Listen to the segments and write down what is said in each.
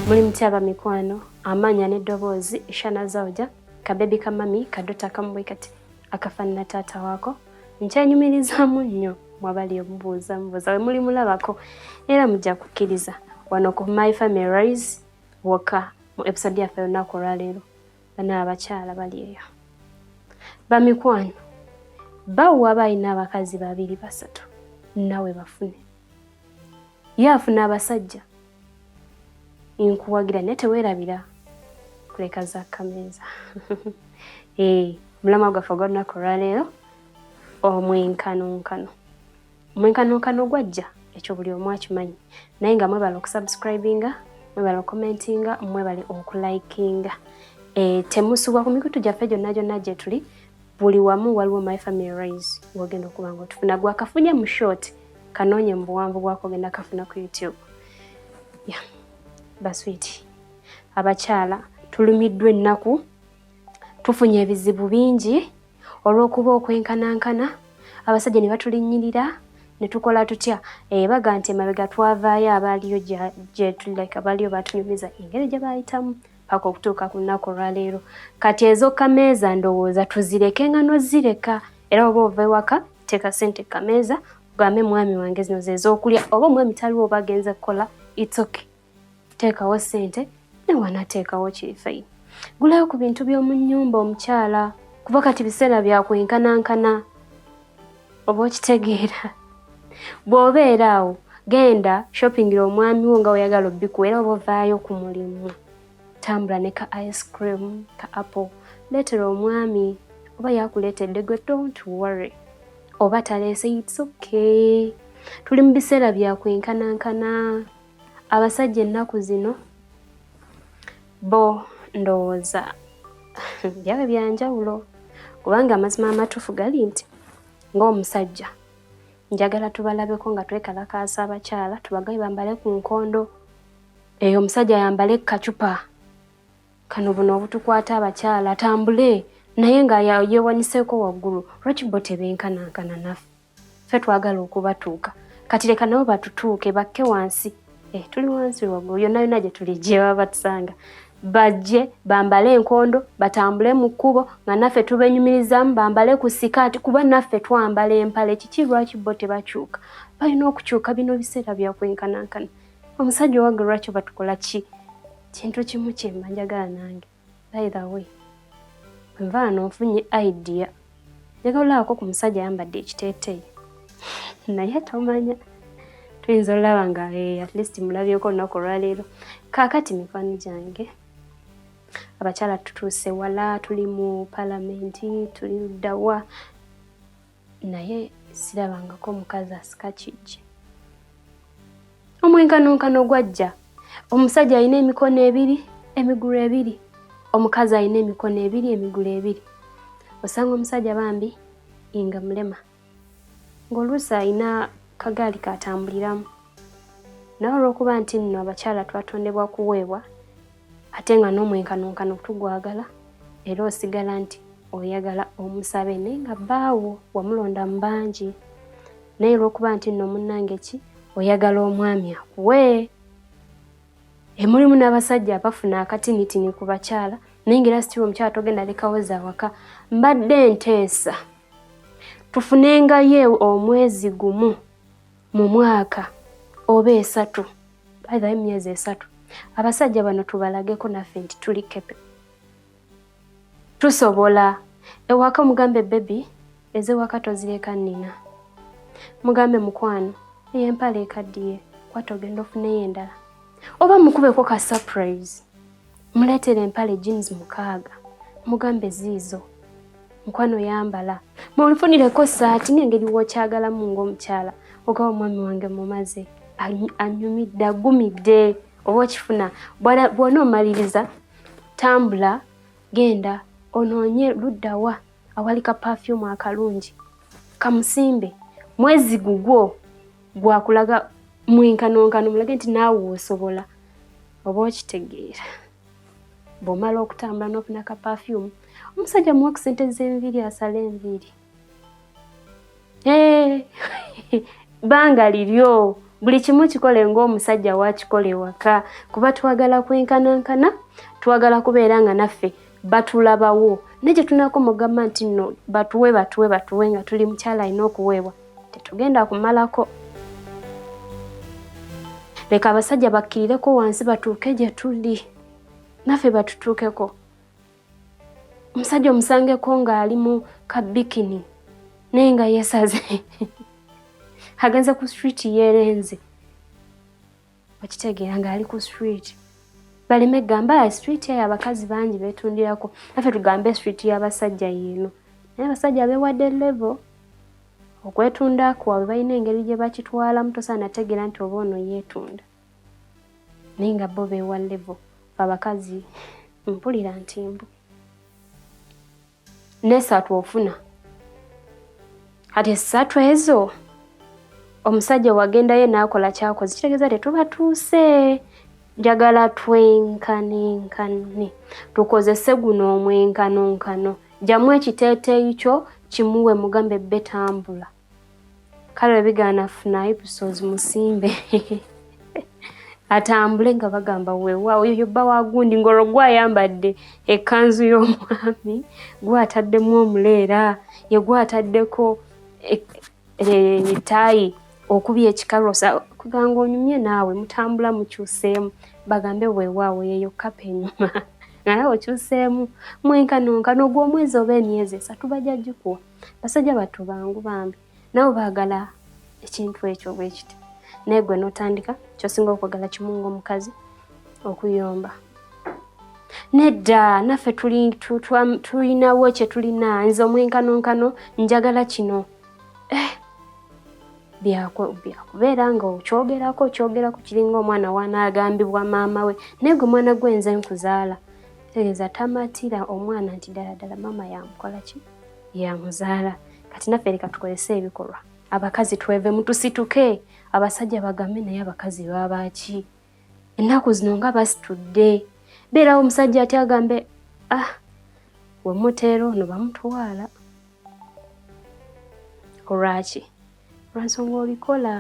muli mutya bamikwano amaanya n'eddoboozi ishana zauja kabebi ka mami kadota kamubwe kati akafaanana taata waako nkyanyumirizaamu nnyo mwabali omubuuza mubuuza we muli mulabako era mujja kukkiriza wano ku my family rise wokka mu episode yaffe olunaku olwaleero bano abakyala bali eyo bamikwano bawo waba alina abakazi babiri basatu nawe bafune ye afuna abasajja nkuwagira naye tewerabira kuleka za kameeza eh, mulama gwaffe ogwa lunaku olwaleero omwenkanonkano omwenkanonkano gwajja ekyo buli omu akimanyi naye nga mwebale okusubscribinga mwebale okomentinga mwebale okulikinga e, eh, temusubwa ku mikutu gyaffe gyonna gyonna gyetuli buli wamu waliwo my family rise wogenda okuba nga otufuna gwakafunye mu short kanoonye mu buwanvu bwako ogenda kafuna ku youtube ya yeah. baswiti abakyala tulumiddwa ennaku tufunye ebizibu bingi olw'okuba okwenkanankana abasajja ne batulinnyirira ne tukola tutya ebaga eh, nti emabega twavaayo abaaliyo gyetulike abaaliyo batunyumiza engeri gye baayitamu paka okutuuka ku lunaku olwaleero kati ezokameeza ndowooza tuzireke nga nozireka era oba ova ewaka teeka sente kameeza ugambe mwami wange zino zezokulya oba omwami taliwo oba agenze kukola itsoke teekawo ssente ne wanateekawo kirifeyi gulayo ku bintu by'omu nnyumba omukyala kuba kati biseera bya kwenkanankana oba okitegeera bw'obeera awo genda shoppingira omwami wo nga weyagala obbiku era oba ovaayo ku mulimu tambula ne ka ice cream ka apple leetera omwami oba yakuleetedde gwe don't worry oba taleese it's okay tuli mu biseera bya kwenkanankana abasajja ennaku zino bo ndowooza byabwe byanjawulo kubanga amazima amatuufu gali nti ng'omusajja njagala tubalabeko nga twekalakaasa abakyala tubagaye bambale ku nkondo eyo omusajja ayambale kacupa kano buno obutukwata abakyala atambule naye nga yewaniseko waggulu lwaki bo tebenkanankana naffe ffe twagala okubatuuka kati leka nabo batutuuke bakke wansi eh, tuli wansi waggulu yonna yonna gye tuli gye baba batusanga bajje bambale enkondo batambule mu kkubo nga naffe tubenyumirizamu bambale ku sikaati kuba naffe twambala empale kiki lwaki bo tebakyuka balina okukyuka bino biseera byakwenkanankana omusajja owaga lwaki batukola ki kintu kimu kyemba njagala nange By the way, nvaano nfunye idea njagala olabako ku musajja ayambadde ekiteeteeyi naye tomanya tuyinza olaba nga eh, at least mulabyeko olunaku olwaleero kaakati mikwano gyange abakyala tutuuse wala tuli mu palamenti tuli luddawa naye sirabangako mukazi asika kijje omwenkanonkano gwajja omusajja alina emikono ebiri emigulu ebiri omukazi alina emikono ebiri emigulu ebiri osanga omusajja bambi nga mulema ng'oluusi alina kagaali katambuliramu naye olw'okuba nti nno abakyala twatondebwa kuweebwa ate nga n'omwenkanonkano tugwagala era osigala nti oyagala omusabe naye nga bbaawo wamulonda mu bangi naye olwokuba nti nno munnange ki oyagala omwami akuwe emulimu n'abasajja abafuna akatinitini ku bakyala naye nga era sitiri omukyala togenda lekawo za waka mbadde nteesa tufunengayo omwezi gumu mu mwaka oba esatu baitha emyezi esatu abasajja bano tubalageko naffe nti tuli kepe tusobola ewaka mugambe bebi ezewaka tozireka nina mugambe mukwano eyo empala ekaddiye kwata ogenda ofuneyo endala oba mukubeko ka surprise Muleetere empale jeans mukaaga mugambe ziizo mukwano yambala munfunireko saati nengeri wokyagalamu ngaomukyala oga omwami wange mumaze anyumidde agumidde oba okifuna bwona omaliriza tambula genda onoonye luddawa awali ka pafyumu akalungi kamusimbe mwezi gugwo gwakulaga mwenkanonkano mulage nti naawe osobola oba okitegeera bwomala okutambula n'ofuna ka pafyumu omusajja muwa ku sente z'enviiri asala enviiri Hey, eh, banga liryo buli kimu kikole ng'omusajja wakikola ewaka kuba twagala kwenkanankana twagala kubeera nga naffe batulabawo naye kyetunako mugamba nti no batuwe batuwe batuwe nga tuli mukyala alina okuweebwa tetugenda kumalako leka abasajja bakkirireko wansi batuuke gye tuli naffe batutuukeko omusajja omusangeko ng'ali mu kabikini naye nga yesaze agenze ku street yerenze okitegeera ng'ali ku street baleme gamba ah, street eyo abakazi bangi betundirako afe tugambe street y'abasajja yiino naye abasajja bewadde level okwetunda kwabwe balina engeri gye bakitwalamu tosaana tegeera nti oba ono yeetunda naye nga bo bewa levo abakazi mpulira nti mbu nesatu ofuna kati esatu ezo omusajja wagendayo naakola kyakoze kitegeeza tetubatuuse njagala twenkanenkane tukozese guno omwenkanonkano jamu ekiteeteeyi kyo kimuwe mugambe betambula kale webigaana funa episodes musimbe atambule nga bagamba wewa oyo yobba wagundi ngolwo gwayambadde ekanzu y'omwami gwataddemu omuleera yegwataddeko etaayi e, e, okubya ekikarosa kuganga onyumye naawe mutambula mukyuseemu bagambe wewaawo yeyo kapa enyuma naye okyuseemu mwenkanonka nogwomwezi oba emyezi esatu bajagikuwa basajja battu bangu bambi nabo baagala ekintu ekyo bwe kiti naye gwe n'otandika kyosinga okwagala kimu ng'omukazi okuyomba nedda naffe tulinawo kye tulina nze omwenkanonkano njagala kino eh, byakubeera nga okyogerako okyogerako kiringa omwana wanaagambibwa maama we naye gwe mwana gwenze nkuzaala tegeeza tamatira omwana nti ddala ddala maama yamukola ki yamuzaala kati naffe leka tukozese ebikolwa abakazi tweve mutusituke abasajja bagambe naye abakazi babaki ennaku zino nga basitudde beerawo omusajja ati agambe ah wemuteera ono bamutwala olwaki lwansonga obikola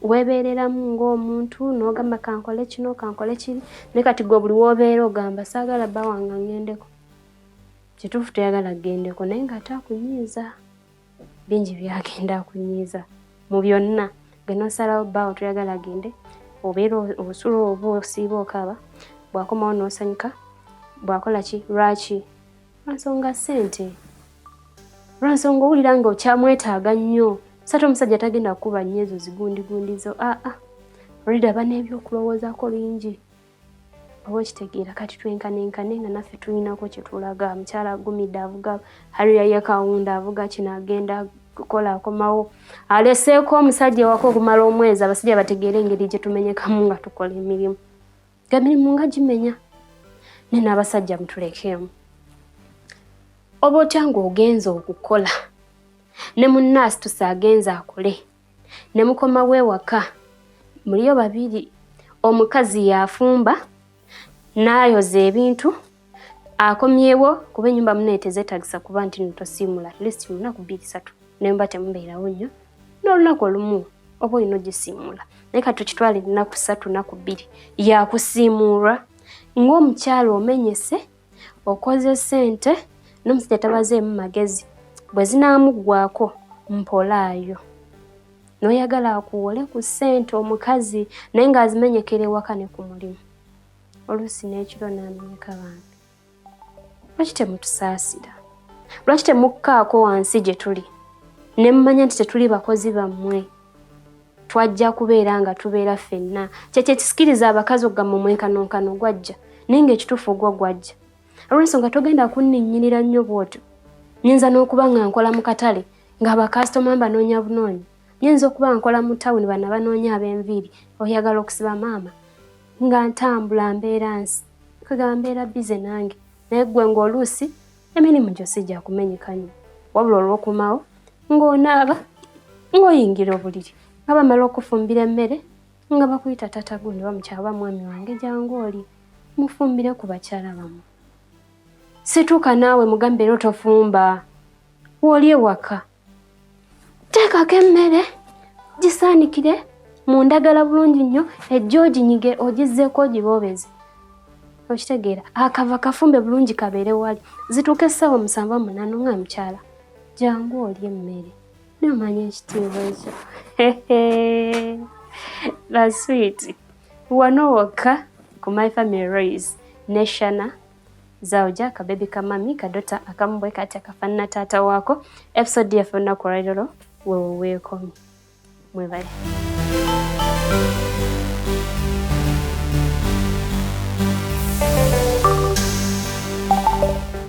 webeereramu ng'omuntu n'ogamba kankole kino kankole kiri naye kati gwe buli wobeera ogamba saagala bawanga ngendeko Kituufu teyagala agendeko naye nga ate akunyiiza bingi byagenda akunyiiza mu byonna genosalawo baawo toyagala agende obeera osula oba osiiba okaaba bwakomawo nosanyuka bwakola ki lwaki lwansonga sente lwansonga owulira nga okyamwetaaga nnyo sate omusajja tagenda kukuba nnyo ezo zigundigundizo aa ah, ah. olida bana ebyokulowoozaako bingi oba okitegeera kati twenkanaenkane nga naffe tulinako kyetulaga mukyala agumidde avuga hariya ye kawunda avuga kino agenda kukola akomawo aleseeko omusajja ewaka okumala omwezi abasajja bategeere engeri gyetumenyekamu nga tukola emirimu emirimu nga gimenya ne n'abasajja mutulekeemu oba otya ng'ogenza okukola ne munnaasitusa agenza akole ne mukomawo ewaka muliyo babiri omukazi yafumba nayoza ebintu akomyewo kuba enyumba mune tezetagisa kuba nti notosiimula list munaku bbiri satu nemba temubeerawo nnyo n'olunaku olumu oba olina ogisiimuula naye ka tukitwala ennaku ssatu naku bbiri yakusiimuulwa ng'omukyalo omenyese okoze sente nomusajja tabazeemu magezi bwe zinaamuggwako mpolaayo n'oyagala akuwole ku ssente omukazi naye ng'azimenyekera ewaka ne ku mulimu oluusi n'ekiro n'amenyeka bantu lwaki temutusaasira lwaki temukkaako wansi gye tuli ne mumanya nti tetuli bakozi bammwe twajja kubeera nga tubeera ffenna kyekyo ekisikiriza abakazi okugamba omwenkanonkano gwajja naye nga ekituufu ogwo gwajja olwensonga togenda kunninnyirira nnyo bwotyo nyinza n'okuba nga nkola mu katale ng'abakasitoma mbanoonya bunoonyi nyinza okuba nkola mu tawuni bana banoonya ab'enviiri oyagala okusiba maama nga ntambula mbeera nsi kwegamba mbeera bize nange naye ggwe ng'oluusi emirimu gyo si gya kumenyekanyo wabula olw'okumawo ng'onaaba ng'oyingira obuliri nga bamala okufumbira emmere nga bakuyita tata gundi bamukyaba mwami wange jangu oli mufumbire ku bakyala bamu situuka naawe mugambe era otofumba wooli ewaka teekako emmere gisaanikire mu ndagala bulungi nnyo ejja oginyige ogizzeeko ogiboobeze okitegeera akava kafumbe bulungi kabeere wali zituuka essaawa musanvu munaano nga mukyala jangu oli emmere nomanya ekitiibwa ekyo baswiiti wano wokka ku my family raise neshana Zauja kabebi ka mami kadota akamu bwe kati akafanana taata waako. Episode yaffe olunaku olwalirolo wewo weekomi mwebale.